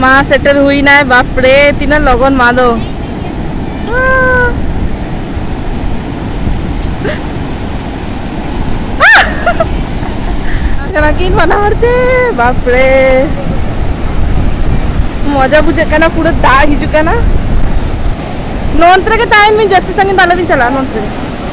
ᱢᱟ ᱥᱮᱴᱮᱨ ᱦᱩᱭᱱᱟᱭ ᱵᱟᱯᱨᱮ ᱛᱤᱱᱟᱹᱜ ᱞᱚᱜᱚᱱ ᱢᱟ ᱫᱚ ᱠᱟᱱᱟ ᱠᱤᱱ ᱵᱟᱱᱟ ᱦᱚᱲ ᱛᱮ ᱵᱟᱯᱨᱮ ᱢᱚᱡᱟ ᱵᱩᱡᱷᱟᱹᱜ ᱠᱟᱱᱟ ᱯᱩᱨᱟᱹ ᱫᱟᱜ ᱦᱤᱡᱩᱜ ᱠᱟᱱᱟ ᱱᱚᱱᱛᱮ ᱨᱮᱜᱮ ᱛᱟᱦᱮᱱ ᱵᱤᱱ ᱡᱟᱹᱥᱛᱤ ᱥᱟᱺᱜᱤᱧ ᱫᱚ ᱟᱞᱚᱵᱤᱱ ᱪᱟᱞᱟᱜᱼᱟ ᱱᱚᱱᱛᱮ ᱨᱮᱜᱮ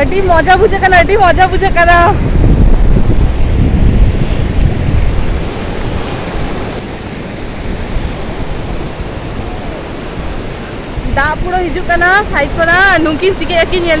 ᱟᱹᱰᱤ ᱢᱚᱡᱟ ᱵᱩᱡᱷᱟᱹᱜ ᱠᱟᱱᱟ ᱟᱹᱰᱤ ᱢᱚᱡᱟ ᱵᱩᱡᱷᱟᱹᱜ ᱠᱟᱱᱟ ᱫᱟᱜ ᱯᱩᱨᱟᱹ ᱦᱤᱡᱩᱜ ᱠᱟᱱᱟ ᱥᱟᱭᱤᱰ ᱠᱷᱚᱱᱟᱜ ᱱᱩᱠᱤᱱ ᱪᱤᱠᱟᱹᱭᱟᱠᱤᱱ ᱧᱮᱞ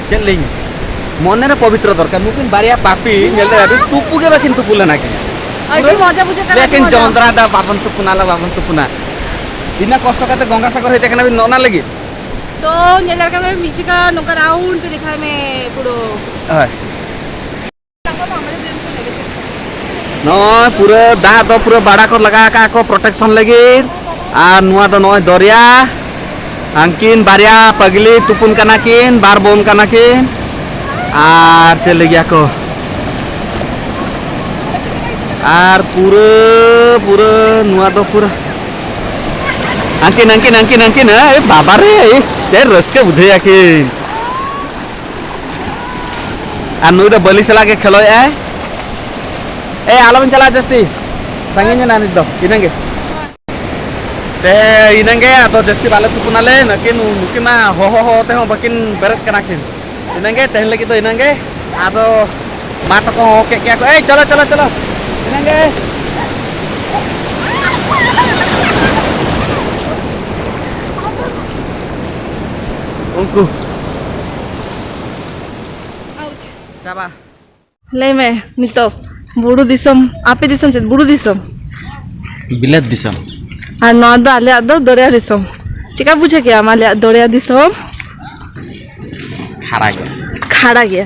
ᱪᱮᱫ ᱞᱤᱧ ᱢᱚᱱᱮ ᱨᱮ ᱯᱚᱵᱤᱛᱨᱚ ᱫᱚᱨᱠᱟᱨ ᱱᱩᱠᱤᱱ ᱵᱟᱨᱭᱟ ᱯᱟᱯᱤ ᱧᱮᱞ ᱫᱟᱲᱮ ᱟᱹᱵᱤᱱ ᱛᱩᱯᱩ ᱜᱮ ᱵᱟᱹᱠᱤᱱ ᱛᱩᱯᱩ ᱞᱮᱱᱟ ᱠᱤᱱ ᱟᱹᱰᱤ ᱢᱚᱡᱟ ᱵᱩᱡᱷᱟᱹᱜ ᱠᱟᱱᱟ ᱞᱮᱠᱤᱱ ᱡᱚᱸᱫᱽᱨᱟ ᱫᱟ ᱵᱟᱵᱚᱱ ᱛᱩᱯᱩᱱᱟ ᱞᱟ ᱵᱟᱵᱚᱱ ᱛᱩᱯᱩᱱᱟ ᱤᱱᱟᱹ ᱠᱚᱥᱴᱚ ᱠᱟᱛᱮ ᱜᱚᱝᱜᱟ ᱥᱟᱜᱚᱨ ᱦᱮᱡ ᱟᱠᱟᱱᱟ ᱵᱤᱱ ᱱᱚᱜᱼᱱᱟ ᱞᱟᱹᱜᱤᱫ ᱛᱚ ᱧᱮᱞ ᱫᱟᱲᱮ ᱠᱟᱱᱟ ᱢᱤᱫ ᱡᱟᱭᱜᱟ ᱱᱚᱝᱠᱟ ᱨᱟᱣᱩᱱᱰ ᱛᱮ ᱫᱮᱠᱷᱟᱭ ᱢᱮ ᱯᱩᱨᱟᱹ ᱦᱳᱭ ᱱᱚᱜᱼᱚᱭ ᱯᱩᱨᱟᱹ ᱫᱟᱜ ᱫᱚ ᱯᱩᱨᱟᱹ ᱵᱟᱲᱟ ᱠᱚ ᱞᱟᱜᱟᱣ ᱟᱠᱟᱫ ᱠᱚ ᱯᱨᱚᱴᱮᱠᱥᱚᱱ ᱞᱟᱹᱜᱤᱫ ᱟᱨ ᱱᱚᱣᱟ ᱫᱚ ᱱᱚᱜᱼᱚᱭ ᱫᱚᱨᱭᱟ ᱦᱟᱝᱠᱤᱱ ᱵᱟᱨᱭᱟ ᱯᱟᱜᱽᱞᱤ ᱛᱩᱯᱩᱱ ᱠᱟᱱᱟ ᱠᱤᱱ ᱵᱟᱨ ᱵᱚᱱ ᱠᱟᱱᱟ ᱠᱤᱱ ᱟᱨ ᱪᱮᱫ ᱞᱟᱹᱜᱤᱫ ᱟᱠᱚ ᱟᱨ ᱯᱩᱨᱟᱹ ᱯᱩᱨᱟᱹ ᱱᱚᱣᱟ ᱫᱚ ᱯᱩᱨᱟᱹ ᱦᱟᱝᱠᱤᱱ ᱦᱟᱝᱠᱤᱱ ᱦᱟᱝᱠᱤᱱ ᱦᱟᱝᱠᱤᱱ ᱮ ᱵᱟᱵᱟ ᱨᱮ ᱪᱮᱫ ᱨᱟᱹᱥᱠᱟᱹ ᱵᱩᱡᱷᱟᱹᱣ ᱟᱹᱠᱤᱱ ᱟᱨ ᱱᱩᱭ ᱫᱚ ᱵᱟᱹᱞᱤ ᱥᱟᱞᱟᱜ ᱜᱮ ᱠᱷᱮᱞᱚᱭᱮᱫ ᱟᱭ ᱮ ᱟᱞᱚᱵᱮᱱ ᱪᱟᱞᱟᱜᱼᱟ ᱡᱟᱹᱥᱛᱤ ᱥᱟᱺᱜᱤᱧ ᱮᱱᱟ ᱱᱤᱛ ᱫᱚ ᱤᱱᱟᱹᱜᱮ ᱛᱮ ᱤᱱᱟᱹᱜᱮ ᱟᱫᱚ ᱡᱟᱹᱥᱛᱤ ᱵᱟᱞᱮ ᱛᱩᱯᱩᱱᱟᱞᱮ ᱱᱟᱹᱠᱤᱱ ᱱᱩᱠᱤᱱ ᱢᱟ ᱦᱚᱦᱚ ᱦᱚᱦᱚ ᱛᱮᱦᱚᱸ ᱵᱟᱹᱠᱤᱱ ᱵᱮᱨᱮᱫ ᱠᱟᱱᱟ ᱠᱤᱱ ᱤᱱᱟᱹᱜᱮ ᱛᱮᱦᱮᱧ ᱞᱟᱹᱜᱤᱫ ᱫᱚ ᱤᱱᱟᱹᱜᱮ ᱟᱫᱚ ᱢᱟ ᱛᱟᱠᱚ ᱦᱚᱦᱚ ᱠᱮᱫ ᱜᱮᱭᱟ ᱠᱚ ᱮᱭ ᱪᱚᱞᱚ ᱪᱚᱞᱚ ᱪᱚᱞᱚ ᱤᱱᱟᱹᱜᱮ ᱩᱱᱠᱩ ᱪᱟᱵᱟ ᱞᱟᱹᱭ ᱢᱮ ᱱᱤᱛᱚᱜ ᱵᱩᱨᱩ ᱫᱤᱥᱚᱢ ᱟᱯᱮ ᱫᱤᱥᱚᱢ ᱪᱮᱫ ᱵᱩᱨᱩ ᱫᱤᱥᱚᱢ ᱵᱤᱞᱟᱹᱛ ᱫᱤᱥᱚᱢ ᱟᱨ ᱱᱚᱣᱟ ᱫᱚ ᱟᱞᱮᱭᱟᱜ ᱫᱚ ᱫᱚᱨᱭᱟ ᱫᱤᱥᱚᱢ ᱪᱮᱠᱟ ᱵᱩᱡᱷᱟᱹᱣ ᱠᱮᱜ ᱟᱢ ᱟᱞᱮᱭᱟᱜ ᱫᱚᱨᱭᱟ ᱫᱤᱥᱚᱢ ᱠᱷᱟᱨᱟ ᱜᱮᱭᱟ ᱠᱷᱟᱲᱟ ᱜᱮᱭᱟ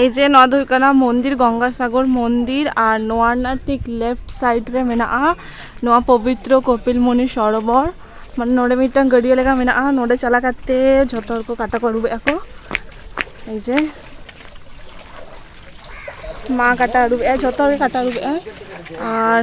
ᱮᱭ ᱡᱮ ᱱᱚᱣᱟ ᱫᱚ ᱦᱩᱭᱩᱜ ᱠᱟᱱᱟ ᱢᱚᱱᱫᱤᱨ ᱜᱚᱝᱜᱟ ᱥᱟᱜᱚᱨ ᱢᱚᱱᱫᱤᱨ ᱟᱨ ᱱᱚᱣᱟ ᱨᱮᱱᱟᱜ ᱴᱷᱤᱠ ᱞᱮᱯᱷᱴ ᱥᱟᱭᱤᱰ ᱨᱮ ᱢᱮᱱᱟᱜᱼᱟ ᱱᱚᱣᱟ ᱯᱚᱵᱤᱛᱨᱚ ᱠᱚᱯᱤᱞ ᱢᱩᱱᱤ ᱥᱚᱨᱚᱵᱚᱨ ᱢᱟᱱᱮ ᱱᱚᱰᱮ ᱢᱤᱫᱴᱟᱝ ᱜᱟᱹᱰᱭᱟᱹ ᱞᱮᱠᱟ ᱢᱮᱱᱟᱜᱼᱟ ᱱᱚᱰᱮ ᱪᱟᱞᱟᱣ ᱠᱟᱛᱮ ᱡᱷᱚᱛᱚ ᱦᱚᱲ ᱠᱚ ᱠᱟᱴᱟ ᱠᱚ ᱟᱹᱨᱩᱵᱮᱜᱼᱟ ᱠᱚ ᱮᱭ ᱡᱮ ᱢᱟ ᱠᱟᱴᱟ ᱟᱹᱨᱩᱵᱮᱜᱼᱟᱭ ᱡᱷᱚᱛᱚ ᱦᱚᱲ ᱜᱮ ᱠᱟᱴᱟ ᱟᱹᱨᱩᱵᱮᱜᱼᱟᱭ ᱟᱨ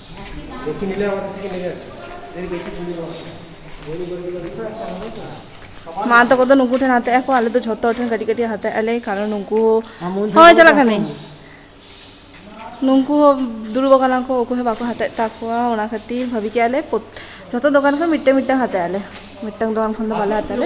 ᱢᱟ ᱛᱟᱠᱚ ᱫᱚ ᱱᱩᱠᱩ ᱴᱷᱮᱱ ᱦᱟᱛᱟᱣ ᱟᱠᱚ ᱟᱞᱮ ᱫᱚ ᱡᱷᱚᱛᱚ ᱦᱚᱲ ᱴᱷᱮᱱ ᱠᱟᱹᱴᱤᱡ ᱠᱟᱹᱴᱤᱡ ᱦᱟᱛᱟᱣ ᱟᱞᱮ ᱠᱟᱨᱚᱱ ᱱᱩᱠᱩ ᱦᱳᱭ ᱪᱟᱞᱟᱜ ᱠᱟᱹᱱᱟᱹᱧ ᱱᱩᱠᱩ ᱦᱚᱸ ᱫᱩᱲᱩᱵ ᱟᱠᱟᱱᱟ ᱠᱚ ᱚᱠᱚᱭ ᱦᱚᱸ ᱵᱟᱠᱚ ᱦᱟᱛᱟᱣᱮᱫ ᱛᱟᱠᱚᱣᱟ ᱚᱱᱟ ᱠᱷᱟᱹᱛᱤᱨ ᱵᱷᱟᱹᱵᱤ ᱠᱮᱜᱼᱟ ᱞᱮ ᱡᱷᱚᱛᱚ ᱫᱚᱠᱟᱱ ᱠᱷᱚᱱ ᱢᱤᱫᱴᱟᱝ ᱢᱤᱫᱴᱟᱝ ᱦᱟᱛᱟᱣ ᱟᱞᱮ ᱢᱤᱫᱴᱟᱝ ᱫᱚᱠᱟᱱ ᱠᱷᱚᱱ ᱫᱚ ᱵᱟᱞᱮ ᱦᱟᱛᱟᱣ ᱟᱞᱮ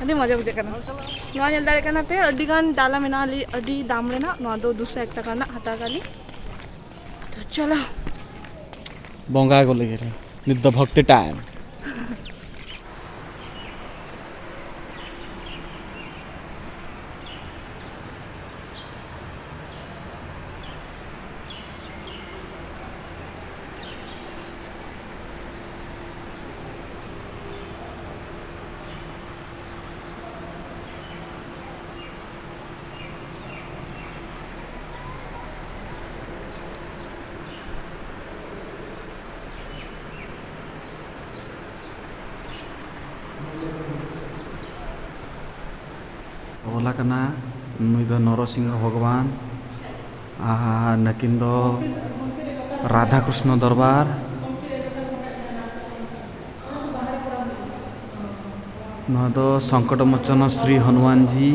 ᱟᱹᱰᱤ ᱢᱚᱡᱟ ᱵᱩᱡᱷᱟᱹᱜ ᱠᱟᱱᱟ ᱱᱚᱣᱟ ᱧᱮᱞ ᱫᱟᱲᱮᱭᱟᱜ ᱠᱟᱱᱟ ᱯᱮ ᱟᱹᱰᱤ ᱜᱟᱱ ᱰᱟᱞᱟ ᱢᱮᱱᱟᱜᱼᱟ ᱞᱤ ᱟᱹᱰᱤ ᱫᱟᱢ ᱨᱮᱱᱟᱜ ᱱᱚᱣᱟ ᱫᱚ ᱫᱩᱥᱚ ᱮᱠ ᱴᱟᱠᱟ ᱨᱮᱱᱟᱜ ᱦᱟᱛᱟᱣ ᱠᱟᱜ ᱞᱤ ᱛᱚ ᱪᱚᱞᱚ ᱵᱚᱸᱜᱟ ᱜᱚᱞᱮ ᱜᱮᱞᱮ ᱱᱤᱛ ᱫᱚ ᱵᱷᱚᱠᱛᱤ ᱴᱟᱭᱤᱢ ᱚᱞ ᱟᱠᱟᱱᱟ ᱱᱩᱭ ᱫᱚ ᱱᱚᱨᱚᱥᱤᱝᱦᱚ ᱵᱷᱚᱜᱚᱵᱟᱱ ᱟᱨ ᱱᱟᱹᱠᱤᱱ ᱫᱚ ᱨᱟᱫᱷᱟ ᱠᱨᱤᱥᱱᱚ ᱫᱚᱨᱵᱟᱨ ᱱᱚᱣᱟ ᱫᱚ ᱥᱚᱝᱠᱚᱴ ᱢᱳᱪᱚᱱ ᱥᱨᱤ ᱦᱚᱱᱩᱢᱟᱱ ᱡᱤ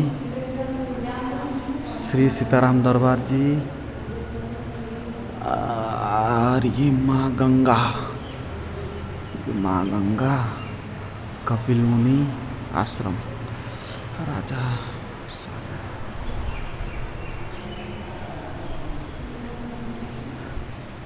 ᱥᱨᱤ ᱥᱤᱛᱟᱨᱟᱢ ᱫᱚᱨᱵᱟᱨ ᱡᱤ ᱟᱨ ᱤ ᱢᱟ ᱜᱟᱝᱜᱟ ᱢᱟ ᱜᱟᱝᱜᱟ ᱠᱟᱯᱤᱞ ᱢᱩᱱᱤ ᱟᱥᱨᱚᱢ ᱨᱟᱡᱟ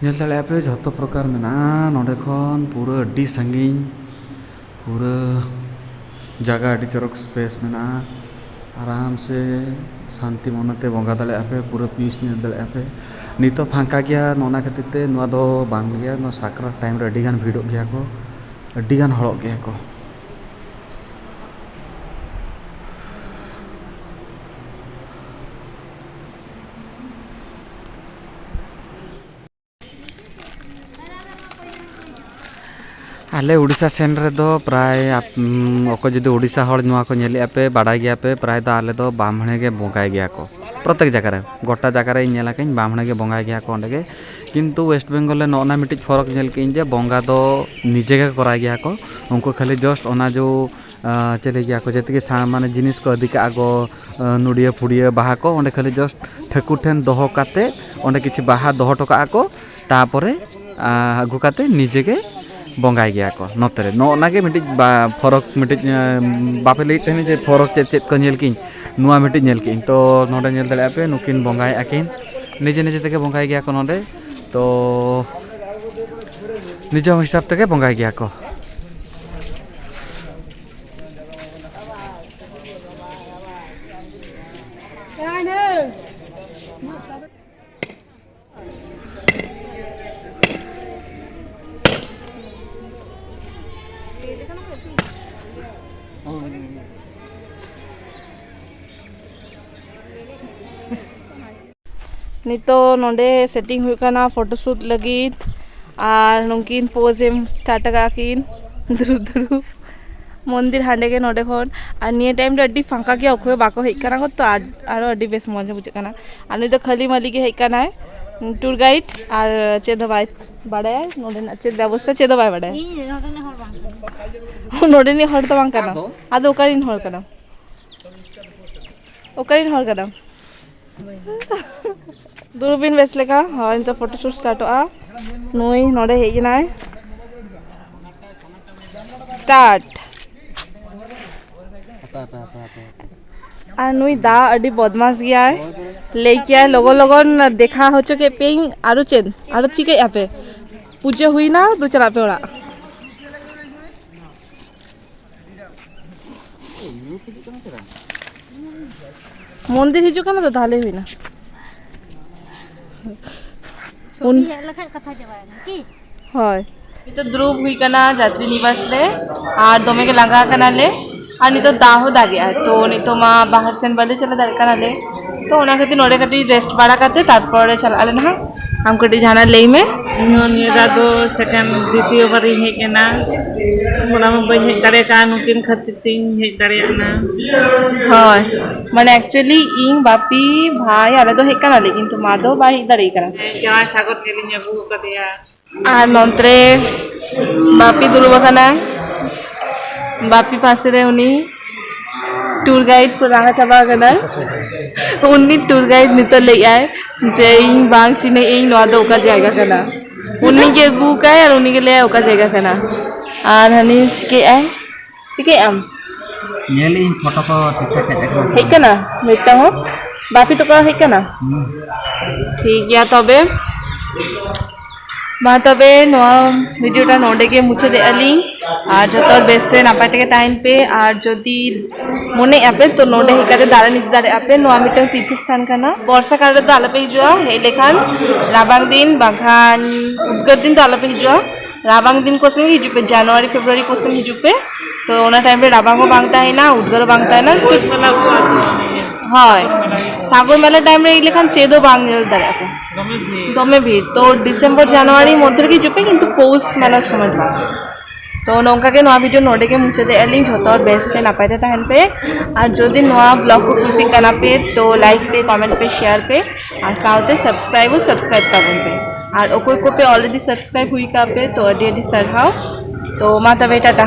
ᱧᱮᱞ ᱫᱟᱲᱮᱭᱟᱜᱼᱟ ᱯᱮ ᱡᱷᱚᱛᱚ ᱯᱨᱚᱠᱟᱨ ᱢᱮᱱᱟᱜᱼᱟ ᱱᱚᱸᱰᱮ ᱠᱷᱚᱱ ᱯᱩᱨᱟᱹ ᱟᱹᱰᱤ ᱥᱟᱺᱜᱤᱧ ᱯᱩᱨᱟᱹ ᱡᱟᱭᱜᱟ ᱟᱹᱰᱤ ᱪᱚᱨᱚᱠ ᱥᱯᱮᱥ ᱢᱮᱱᱟᱜᱼᱟ ᱟᱨᱟᱢ ᱥᱮ ᱥᱟᱱᱛᱤ ᱢᱚᱱᱮ ᱛᱮ ᱵᱚᱸᱜᱟ ᱫᱟᱲᱮᱭᱟᱜᱼᱟ ᱯᱮ ᱯᱩᱨᱟᱹ ᱯᱤᱥ ᱧᱮᱞ ᱫᱟᱲᱮᱭᱟᱜᱼᱟ ᱯᱮ ᱱᱤᱛᱚᱜ ᱯᱷᱟᱸᱠᱟ ᱜᱮᱭᱟ ᱚᱱᱟ ᱠᱷᱟᱹᱛᱤᱨ ᱛᱮ ᱱᱚᱣᱟ ᱫᱚ ᱵᱟᱝ ᱜᱮᱭᱟ ᱱᱚᱣᱟ ᱥᱟᱠᱨᱟᱛ ᱴᱟᱭᱤᱢ ᱨᱮ ᱟᱹᱰᱤ ᱜᱟᱱ ᱵᱷᱤᱲᱚᱜ ᱜᱮᱭᱟ ᱠᱚ ᱟᱹᱰᱤ ᱜᱟᱱ ᱦᱚᱲᱚᱜ ᱜᱮᱭᱟ ᱠᱚ ᱟᱞᱮ ᱩᱲᱤᱥᱥᱟ ᱥᱮᱱ ᱨᱮᱫᱚ ᱯᱨᱟᱭ ᱚᱠᱚᱭ ᱡᱩᱫᱤ ᱩᱲᱤᱥᱥᱟ ᱦᱚᱲ ᱱᱚᱣᱟ ᱠᱚ ᱧᱮᱞᱮᱫ ᱟᱯᱮ ᱵᱟᱰᱟᱭ ᱜᱮᱭᱟ ᱯᱮ ᱯᱨᱟᱭ ᱫᱚ ᱟᱞᱮ ᱫᱚ ᱵᱟᱢᱱᱮ ᱜᱮ ᱵᱚᱸᱜᱟᱭ ᱜᱮᱭᱟ ᱠᱚ ᱯᱨᱚᱛᱮᱠ ᱡᱟᱭᱜᱟ ᱨᱮ ᱜᱚᱴᱟ ᱡᱟᱭᱜᱟ ᱨᱮ ᱧᱮᱞ ᱟᱠᱟᱫᱟᱹᱧ ᱵᱟᱢᱱᱮ ᱜᱮ ᱵᱚᱸᱜᱟᱭ ᱜᱮᱭᱟ ᱠᱚ ᱚᱸᱰᱮ ᱜᱮ ᱠᱤᱱᱛᱩ ᱳᱭᱮᱥᱴ ᱵᱮᱝᱜᱚᱞ ᱨᱮ ᱱᱚᱜᱼᱚᱸᱭ ᱱᱟ ᱢᱤᱫᱴᱤᱡ ᱯᱷᱚᱨᱚᱠ ᱧᱮᱞ ᱠᱮᱫᱟᱹᱧ ᱡᱮ ᱵᱚᱸᱜᱟ ᱫᱚ ᱱᱤᱡᱮ ᱜᱮᱠᱚ ᱠᱚᱨᱟᱣ ᱜᱮᱭᱟ ᱠᱚ ᱩᱱᱠᱩ ᱠᱷᱟᱹᱞᱤ ᱡᱟᱥᱴ ᱚᱱᱟ ᱡᱚ ᱪᱮᱫ ᱞᱟᱹᱭ ᱜᱮᱭᱟ ᱠᱚ ᱡᱮᱛᱮ ᱜᱮ ᱢᱟᱱᱮ ᱡᱤᱱᱤᱥ ᱠᱚ ᱤᱫᱤ ᱠᱟᱜᱼᱟ ᱠᱚ ᱱᱚᱰᱤᱭᱟᱹ ᱯᱷᱩᱰᱤᱭᱟᱹ ᱵᱟᱦᱟ ᱠᱚ ᱚᱸᱰᱮ ᱠᱷᱟᱹᱞᱤ ᱡᱟᱥᱴ ᱴᱷᱟᱹᱠᱩᱨ ᱴᱷᱮᱱ ᱫᱚᱦᱚ ᱠᱟᱛᱮᱫ ᱚᱸᱰᱮ ᱠᱤᱪᱷᱩ ᱵᱟᱦᱟ ᱫᱚᱦᱚ ᱦᱚᱴᱚ ᱠᱟᱜᱼᱟ ᱠᱚ ᱛᱟᱨᱯᱚᱨᱮ ᱟᱹᱜᱩ ᱠᱟᱛᱮᱫ ᱱᱤᱡᱮ ᱜᱮ ᱵᱚᱸᱜᱟᱭ ᱜᱮᱭᱟ ᱠᱚ ᱱᱚᱛᱮ ᱨᱮ ᱱᱚᱜᱼᱚ ᱱᱟᱜᱮ ᱢᱤᱫᱴᱤᱡ ᱯᱷᱚᱨᱚᱠ ᱢᱤᱫᱴᱤᱡ ᱵᱟᱯᱮ ᱞᱟᱹᱭᱮᱫ ᱛᱟᱦᱮᱱᱟ ᱡᱮ ᱯᱷᱚᱨᱚᱠ ᱪᱮᱫ ᱪᱮᱫ ᱠᱚ ᱧᱮᱞ ᱠᱮᱜᱼᱟᱹᱧ ᱱᱚᱣᱟ ᱢᱤᱫᱴᱤᱡ ᱧᱮᱞ ᱠᱮᱜᱼᱟᱹᱧ ᱛᱚ ᱱᱚᱰᱮ ᱧᱮᱞ ᱫᱟᱲᱮᱭᱟᱜᱼᱟ ᱯᱮ ᱱᱩᱠᱤᱱ ᱵᱚᱸᱜᱟᱭᱮᱜᱼᱟ ᱠᱤᱱ ᱱᱤᱡᱮ ᱱᱤᱡᱮ ᱛᱮᱜᱮ ᱵᱚᱸᱜᱟᱭ ᱜᱮᱭᱟ ᱠᱚ ᱱᱚᱰᱮ ᱛᱚ ᱱᱤᱡᱮ ᱦᱚᱸ ᱦᱤᱥᱟᱹᱵ ᱛᱮᱜᱮ ᱵᱚᱸᱜᱟᱭ ᱜᱮᱭᱟ ᱠᱚ ᱱᱤᱛᱚᱜ ᱱᱚᱰᱮ ᱥᱮᱴᱤᱝ ᱦᱩᱭᱩᱜ ᱠᱟᱱᱟ ᱯᱷᱳᱴᱳ ᱥᱩᱴ ᱞᱟᱹᱜᱤᱫ ᱟᱨ ᱱᱩᱠᱤᱱ ᱯᱳᱡᱽ ᱮᱢ ᱥᱴᱟᱨᱴ ᱠᱟᱜᱼᱟ ᱠᱤᱱ ᱫᱩᱲᱩᱵ ᱫᱩᱲᱩᱵ ᱢᱚᱱᱫᱤᱨ ᱦᱟᱸᱰᱮ ᱜᱮ ᱱᱚᱰᱮ ᱠᱷᱚᱱ ᱟᱨ ᱱᱤᱭᱟᱹ ᱴᱟᱭᱤᱢ ᱫᱚ ᱟᱹᱰᱤ ᱯᱷᱟᱠᱟ ᱜᱮᱭᱟ ᱚᱠᱚᱭ ᱦᱚᱸ ᱵᱟᱠᱚ ᱦᱮᱡ ᱠᱟᱱᱟ ᱛᱚ ᱟᱨᱚ ᱟᱹᱰᱤ ᱵᱮᱥ ᱢᱚᱡᱽ ᱵᱩᱡᱷᱟᱹᱜ ᱠᱟᱱᱟ ᱟᱨ ᱱᱩᱭ ᱫᱚ ᱠᱷᱟᱹᱞᱤ ᱢᱟᱹᱞᱤ ᱜᱮ ᱦᱮᱡ ᱠᱟᱱᱟᱭ ᱴᱩᱨ ᱜᱟᱭᱤᱰ ᱟᱨ ᱪᱮᱫ ᱦᱚᱸ ᱵᱟᱭ ᱵᱟᱲᱟᱭᱟ ᱱᱚᱰᱮᱱᱟᱜ ᱪᱮᱫ ᱵᱮᱵᱚᱥᱛᱷᱟ ᱪᱮᱫ ᱦᱚᱸ ᱵᱟᱭ ᱵᱟᱲᱟᱭᱟ ᱱᱚᱰᱮᱱᱤᱡ ᱦᱚᱲ ᱫᱚ ᱵᱟᱝ ᱠᱟᱱᱟᱭ ᱟᱫᱚ ᱚᱠᱟ ᱨᱮᱱ ᱦᱚᱲ ᱠᱟᱱᱟᱢ ᱚᱠᱟᱨᱮᱱ ᱦᱚᱲ ᱠᱟᱱᱟᱢ ᱫᱩᱲᱩᱵ ᱵᱤᱱ ᱵᱮᱥ ᱞᱮᱠᱟ ᱦᱳᱭ ᱱᱤᱛᱚᱜ ᱯᱷᱳᱴᱳ ᱥᱩᱴ ᱥᱴᱟᱨᱴᱚᱜᱼᱟ ᱱᱩᱭ ᱱᱚᱰᱮ ᱦᱮᱡ ᱮᱱᱟᱭ ᱥᱴᱟᱨᱴ ᱟᱨ ᱱᱩᱭ ᱫᱟ ᱟᱹᱰᱤ ᱵᱚᱫᱢᱟᱥ ᱜᱮᱭᱟᱭ ᱞᱟᱹᱭ ᱠᱮᱭᱟᱭ ᱞᱚᱜᱚᱱ ᱞᱚᱜᱚᱱ ᱫᱮᱠᱷᱟ ᱦᱚᱪᱚ ᱠᱮᱫ ᱯᱮᱭᱟᱹᱧ ᱟᱨᱚ ᱪᱮᱫ ᱟᱨᱚ ᱪᱤᱠᱟᱹᱭᱮᱫᱼᱟ ᱯᱮ ᱯᱩᱡᱟᱹ ᱦᱩᱭᱱᱟ ᱫᱩ ᱪᱟᱞᱟᱜ ᱯᱮ ᱚᱲᱟᱜ ᱢᱚᱱᱫᱤᱨ ᱦᱤᱡᱩᱜ ᱠᱟᱱᱟ ᱛᱚ ᱛᱟᱦᱞᱮ ᱦᱩᱭᱱᱟ ᱩᱱ ᱦᱮᱡ ᱞᱮᱠᱷᱟᱡ ᱠᱟᱛᱷᱟ ᱪᱟᱵᱟᱭᱮᱱᱟ ᱠᱤ ᱦᱳᱭ ᱱᱤᱛᱚᱜ ᱫᱩᱲᱩᱵ ᱦᱩᱭ ᱠᱟᱱᱟ ᱡᱟᱛᱨᱤ ᱱᱤᱵᱟᱥ ᱨᱮ ᱟᱨ ᱫᱚᱢᱮ ᱜᱮ ᱞᱟᱸᱜᱟ ᱠᱟᱱᱟᱞᱮ ᱟᱨ ᱱᱤᱛᱚᱜ ᱫᱟᱜ ᱦᱚᱸ ᱫᱟᱜᱮᱜᱼᱟᱭ ᱛᱚ ᱱᱤᱛᱚᱜ ᱢᱟ ᱵᱟᱦᱨᱮ ᱥᱮᱱ ᱵᱟᱞᱮ ᱪᱟᱞᱟᱣ ᱫᱟᱲᱮᱭᱟᱜ ᱠᱟᱱᱟᱞᱮ ᱛᱚ ᱚᱱᱟ ᱠᱷᱟᱹᱛᱤᱨ ᱱᱚᱰᱮ ᱠᱟᱹᱴᱤᱡ ᱨᱮᱥᱴ ᱵᱟᱲᱟ ᱠᱟᱛᱮ ᱛᱟᱨᱯᱚᱨᱮ ᱪᱟᱞᱟᱜ ᱟᱞᱮ ᱱᱟᱦᱟᱜ ᱟᱢ ᱠᱟᱹᱴᱤᱡ ᱡᱟᱦᱟᱱᱟᱜ ᱞᱟᱹᱭ ᱢᱮ ᱤᱧ ᱦᱚᱸ ᱱᱤᱭᱟᱹ ᱫᱷᱟᱣ ᱫᱚ ᱥᱮᱠᱮᱱᱰ ᱫᱤᱛᱤᱭᱚ ᱵᱟᱨᱤᱧ ᱦᱮᱡ ᱮᱱᱟ ᱚᱱᱟ ᱢᱟ ᱵᱟᱹᱧ ᱦᱮᱡ ᱫᱟᱲᱮ ᱠᱟᱜᱼᱟ ᱱᱩᱠᱤᱱ ᱠᱷᱟᱹᱛᱤᱨ ᱛᱤᱧ ᱦᱮᱡ ᱫᱟᱲᱮᱭᱟᱜ ᱠᱟᱱᱟ ᱦᱳᱭ ᱢᱟᱱᱮ ᱮᱠᱪᱩᱭᱮᱞᱤ ᱤᱧ ᱵᱟᱯᱤ ᱵᱷᱟᱭ ᱟᱞᱮ ᱫᱚ ᱦᱮᱡ ᱠᱟᱱᱟᱞᱮ ᱠᱤᱱᱛᱩ ᱢᱟ ᱫᱚ ᱵᱟᱭ ᱦᱮᱡ ᱫᱟᱲᱮ ᱠᱟᱱᱟ ᱡᱟᱶᱟᱭ ᱥᱟᱜᱚᱨ ᱧᱮᱞᱤᱧ ᱟᱹᱜᱩ ᱟᱠᱟᱫᱮᱭᱟ ᱟᱨ ᱱᱚᱱᱛᱮᱨᱮ ᱵᱟᱯᱤ ᱫᱩᱲᱩᱵ ᱟᱠᱟᱱᱟᱭ ᱵᱟᱯᱤ ᱯᱟᱥᱮ ᱨᱮ ᱩᱱᱤ ᱴᱩᱨ ᱜᱟᱭᱤᱰ ᱠᱚ ᱞᱟᱦᱟ ᱪᱟᱵᱟ ᱟᱠᱟᱱᱟᱭ ᱩᱱᱤ ᱴᱩᱨ ᱜᱟᱭᱤᱰ ᱱᱤᱛᱚᱜ ᱞᱟᱹᱭ ᱟᱭ ᱡᱮ ᱤᱧ ᱵᱟᱝ ᱪᱤᱱᱦᱟᱹ ᱤᱧ ᱱᱚᱣᱟ ᱫᱚ ᱚᱠᱟ ᱡᱟᱭᱜᱟ ᱠᱟᱱᱟ ᱩᱱᱤ ᱜᱮ ᱟᱹᱜᱩ ᱟᱠᱟᱭ ᱟᱨ ᱩᱱᱤ ᱜᱮ ᱞᱟᱹᱭ ᱟᱭ ᱚᱠᱟ ᱡᱟᱭᱜᱟ ᱠᱟᱱᱟ ᱟᱨ ᱦᱟᱹᱱᱤ ᱪᱤᱠᱟᱹᱭᱮᱫ ᱟᱭ ᱪᱤᱠᱟᱹᱭᱮᱫ ᱟᱢ? ᱧᱮᱞ ᱤᱧ ᱯᱷᱳᱴᱳ ᱠᱚ ᱴᱷᱤᱠ ᱴᱷᱟᱠ ᱦᱮᱡ ᱟᱠᱟᱱᱟ ᱥᱮ ᱦᱮᱡ ᱵᱟᱝ ᱠᱟᱱᱟ ᱢᱤᱫᱴᱟᱝ ᱦᱚᱸ ᱵᱟᱯᱤ ᱛᱟᱠᱚ ᱦᱮᱡ ᱠᱟᱱᱟ ᱦᱩᱸ ᱴᱷᱤᱠ ᱜᱮᱭᱟ ᱛᱚᱵᱮ ᱢᱟ ᱛᱚᱵᱮ ᱱᱚᱣᱟ ᱵᱷᱤᱰᱤᱭᱳ ᱴᱟ ᱱᱚᱰᱮ ᱜᱮ ᱢᱩᱪᱟᱹᱫ ᱮᱫ ᱟᱹᱞᱤᱧ ᱟᱨ ᱡᱚᱛᱚ ᱦᱚᱲ ᱵᱮᱥ ᱛᱮ ᱱᱟᱯᱟᱭ ᱛᱮᱜᱮ ᱛᱟᱦᱮᱱ ᱯᱮ ᱟᱨ ᱡᱩᱫᱤ ᱢᱚᱱᱮᱭᱮᱫ ᱟᱯᱮ ᱛᱚ ᱱᱚᱰᱮ ᱦᱮᱡ ᱠᱟᱛᱮ ᱫᱟᱬᱟᱱ ᱤᱫᱤ ᱫᱟᱲᱮᱭᱟᱜ ᱟᱯᱮ ᱱᱚᱣᱟ ᱢᱤᱫᱴᱟᱝ ᱛᱤᱨᱛᱷᱚ ᱥᱛᱷᱟᱱ ᱠᱟᱱᱟ ᱵᱚᱨᱥᱟ ᱠᱟᱞ ᱨᱮᱫᱚ ᱟᱞᱚᱯᱮ ᱦᱤᱡᱩᱜᱼᱟ ᱦᱮᱡ ᱞᱮᱠᱷᱟᱱ ᱨᱟᱵᱟᱝ ᱫᱤᱱ ᱵᱟᱝᱠᱷᱟᱱ ᱩᱫᱽᱜᱟᱹᱨ ᱫᱤᱱ ᱫᱚ ᱟᱞᱚᱯᱮ ᱦᱤᱡᱩᱜᱼᱟ ᱨᱟᱵᱟᱝ ᱫᱤᱱ ᱠᱚ ᱥᱮᱱ ᱦᱤᱡᱩᱜ ᱯᱮ ᱡᱟᱱᱩᱣᱟᱨᱤ ᱯᱷᱮᱵᱽᱨᱩᱣᱟᱨᱤ ᱠᱚ ᱥᱮᱱ ᱦᱤᱡᱩᱜ ᱯᱮ ᱛᱚ ᱚᱱᱟ ᱴᱟᱭᱤᱢ ᱨᱮ ᱨᱟᱵᱟᱝ ᱦᱚᱸ ᱵᱟᱝ ᱛᱟᱦᱮᱱᱟ ᱩᱫᱽᱜᱟᱹᱨ ᱦᱚᱸ ᱵᱟᱝ ᱛᱟᱦᱮᱱᱟ ᱦᱳᱭ ᱥᱟᱜᱚᱨ ᱢᱮᱞᱟ ᱴᱟᱭᱤᱢ ᱨᱮ ᱦᱮᱡ ᱞᱮᱠᱷᱟᱱ ᱪᱮᱫ ᱦᱚᱸ ᱵᱟᱝ ᱧᱮᱞ ᱫᱟᱲᱮᱭᱟᱜᱼᱟ ᱯᱮ ᱫᱚᱢᱮ ᱵᱷᱤᱲ ᱛᱚ ᱰᱤᱥᱮᱢᱵᱚᱨ ᱡᱟᱱᱩᱣᱟᱨᱤ ᱢᱚᱫᱽᱫᱷᱮ ᱨᱮᱜᱮ ᱦᱤᱡᱩᱜ ᱯᱮ ᱠᱤᱱᱛᱩ ᱯᱳᱥ ᱢᱮᱞᱟ ᱥᱚᱢᱚᱭ ᱫᱚ ᱵᱟᱝ ᱛᱚ ᱱᱚᱝᱠᱟ ᱜᱮ ᱱᱚᱣᱟ ᱵᱷᱤᱰᱤᱭᱳ ᱱᱚᱰᱮ ᱜᱮ ᱢᱩᱪᱟᱹᱫᱮᱜᱼᱟ ᱞᱤᱧ ᱡᱷᱚᱛᱚ ᱦᱚᱲ ᱵᱮᱥ ᱛᱮ ᱱᱟᱯᱟᱭ ᱛᱮ ᱛᱟᱦᱮᱱ ᱯᱮ ᱟᱨ ᱡᱩᱫᱤ ᱱᱚᱣᱟ ᱵᱞᱚᱜ ᱠᱚ ᱠᱩᱥᱤᱜ ᱠᱟᱱᱟ ᱯᱮ ᱛᱚ ᱞᱟᱭᱤᱠ ᱯᱮ ᱠᱚᱢᱮᱱᱴ ᱯᱮ ᱥᱮᱭᱟᱨ ᱯᱮ ᱟᱨ ᱥᱟᱶᱛᱮ ᱥᱟᱵᱥᱠᱨᱟᱭᱤᱵ ᱦᱚᱸ ᱥᱟᱵᱥᱠᱨᱟᱭᱤᱵ ᱛᱟᱵᱚᱱ ᱯᱮ ᱟᱨ ᱚᱠᱚᱭ ᱠᱚᱯᱮ ᱚᱞᱨᱮᱰᱤ ᱥᱟᱵᱥᱠᱨᱟᱭᱤᱵ ᱦᱩᱭ ᱠᱟᱜ ᱯᱮ ᱛᱚ ᱟᱹᱰᱤ ᱟᱹᱰᱤ ᱥᱟᱨᱦᱟᱣ ᱛᱚ ᱢᱟ ᱛᱚᱵᱮ ᱴᱟᱴᱟ